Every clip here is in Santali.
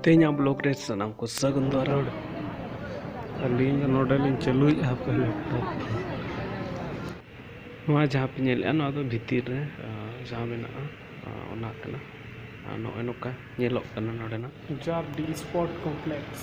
ᱛᱮᱦᱮᱧᱟᱜ ᱵᱞᱚᱜ ᱨᱮ ᱥᱟᱱᱟᱢ ᱠᱚ ᱥᱟᱹᱜᱩᱱ ᱫᱟᱨᱟᱲ ᱟᱹᱞᱤᱧ ᱫᱚ ᱱᱚᱰᱮ ᱞᱤᱧ ᱪᱟᱹᱞᱩᱭᱮᱫᱼᱟ ᱦᱟᱯᱮ ᱞᱮᱯᱴᱚᱯ ᱱᱚᱣᱟ ᱡᱟᱦᱟᱸ ᱯᱮ ᱧᱮᱞᱮᱫᱼᱟ ᱱᱚᱣᱟ ᱫᱚ ᱵᱷᱤᱛᱤᱨ ᱨᱮ ᱡᱟᱦᱟᱸ ᱢᱮᱱᱟᱜᱼᱟ ᱚᱱᱟ ᱠᱟᱱᱟ ᱟᱨ ᱱᱚᱜᱼᱚᱭ ᱱᱚᱝᱠᱟ ᱧᱮᱞᱚᱜ ᱠᱟᱱᱟ ᱱᱚᱰᱮᱱᱟᱜ ᱡᱟᱨ ᱰᱤ ᱥᱯᱚᱴ ᱠᱚᱢᱯᱞᱮᱠᱥ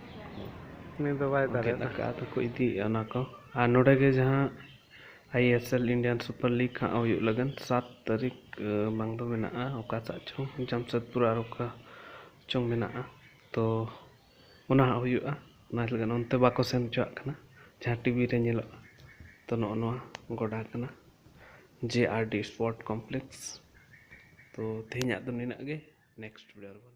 ᱩᱱᱤ ᱫᱚ ᱵᱟᱭ ᱫᱟᱲᱮ ᱜᱮᱫ ᱟᱠᱟᱫᱼᱟ ᱛᱚᱠᱚ ᱤᱫᱤᱭᱮᱫᱼᱟ ᱚᱱᱟ ᱠᱚ ᱟᱨ ᱱᱚᱰᱮ ᱜᱮ ᱡᱟᱦᱟᱸ I S L Indian Super League ᱦᱟᱸᱜ ᱦᱩᱭᱩᱜ ᱞᱟᱹᱜᱤᱫ ᱥᱟᱛ ᱛᱟᱹᱨᱤᱠᱷ ᱵᱟᱝ ᱫᱚ ᱢᱮᱱᱟᱜᱼᱟ ᱚᱠᱟ ᱥᱮᱫ ᱪᱚᱝ ᱡᱟᱢᱥᱮᱫᱽᱯᱩᱨ ᱟᱨ ᱚᱠᱟ ᱪᱚᱝ ᱢᱮᱱᱟᱜᱼᱟ ᱛᱚ ᱚᱱᱟ ᱦᱟᱸᱜ ᱦᱩᱭᱩᱜᱼᱟ ᱚᱱᱟ ᱞᱟᱹᱜᱤᱫ ᱚᱱᱛᱮ ᱵᱟᱠᱚ ᱥᱮᱱ ᱦᱚᱪᱚᱣᱟᱜ ᱠᱟᱱᱟ ᱡᱟᱦᱟᱸ ᱴᱤᱵᱷᱤ ᱨᱮ ᱧᱮᱞᱚᱜᱼᱟ ᱛᱚ ᱱᱚᱜᱼᱚ ᱱᱚᱣᱟ ᱜᱚᱰᱟ ᱠᱟᱱᱟ J R D sport complex ᱛᱚ ᱛᱮᱦᱮᱧᱟᱜ ᱫᱚ ᱱᱤᱱᱟᱹᱜ ᱜᱮ ᱱᱮᱠᱥᱴ ᱵᱷᱤᱰᱭᱳ ᱨᱮᱵᱚᱱ